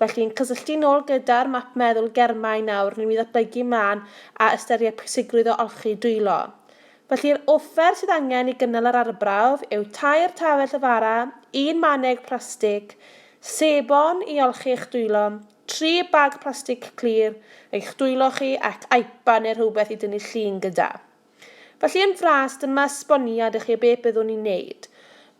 Felly, yn cysylltu nôl gyda'r map meddwl germau nawr newn ni ddatblygu mlan a ystyried pwysigrwydd o olchi dwylo. Felly, yr offer sydd angen i gynnal yr arbrawf yw tair tafell o fara, un maneg plastig, sebon i olchi eich dwylo, tri bag plastig clir, eich dwylo chi ac IPA neu rhywbeth i dynnu llun gyda. Felly yn fras, dyma esboniad i chi o beth byddwn ni'n neud.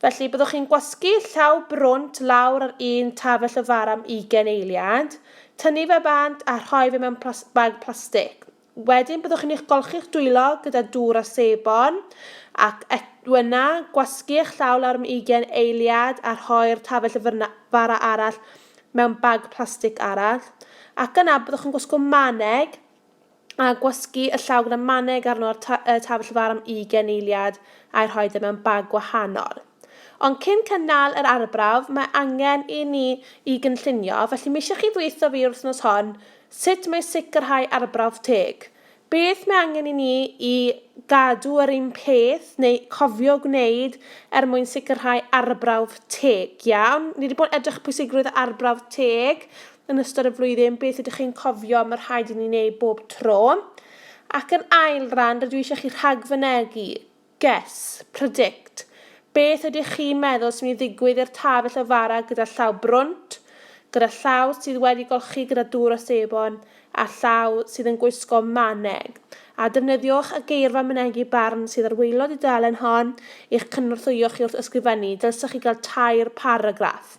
Felly, byddwch chi'n gwasgu llaw brwnt lawr ar un tafell o fara am ugain eiliad, tynnu fe bant a rhoi fe mewn plas bag plastig. Wedyn byddwch chi'n eich golchi'ch dwylo gyda dŵr a sebon, ac et wna gwasgu eich llaw lawr am ugain eiliad a rhoi'r tafell o fyrna fara arall mewn bag plastig arall, ac yna byddwch yn gwisgo maneg, a gwasgu y llaw gyda maneg arno ar ta y tabell far am ugain eiliad a'i rhoi fe mewn bag gwahanol. Ond cyn cy nal yr arbrawf, mae angen i ni i gynllunio, felly m'eisiau chi ddweutho fi yr wythnos hon sut mae sicrhau arbrawf teg. Beth mae angen i ni i gadw yr un peth neu cofio gwneud er mwyn sicrhau arbrawf teg. Iawn, ni wedi bod edrych pwysigrwydd arbrawf teg, yn ystod y flwyddyn, beth ydych chi'n cofio mae rhaid i ni wneud bob tro? Ac yn ail ran, rydw i eisiau chi rhagfynegu, guess, predict, beth ydych chi'n meddwl sy'n mynd i ddigwydd i'r taf y llyfara gyda llaw brwnt, gyda llaw sydd wedi golchi gyda dŵr o sebon, a llaw sydd yn gwisgo maneg. A defnyddiwch y geirfa mynegi barn sydd ar waelod y dudalen hon i'ch cynorthwyo chi wrth ysgrifennu, dylsech chi gael tair paragraff.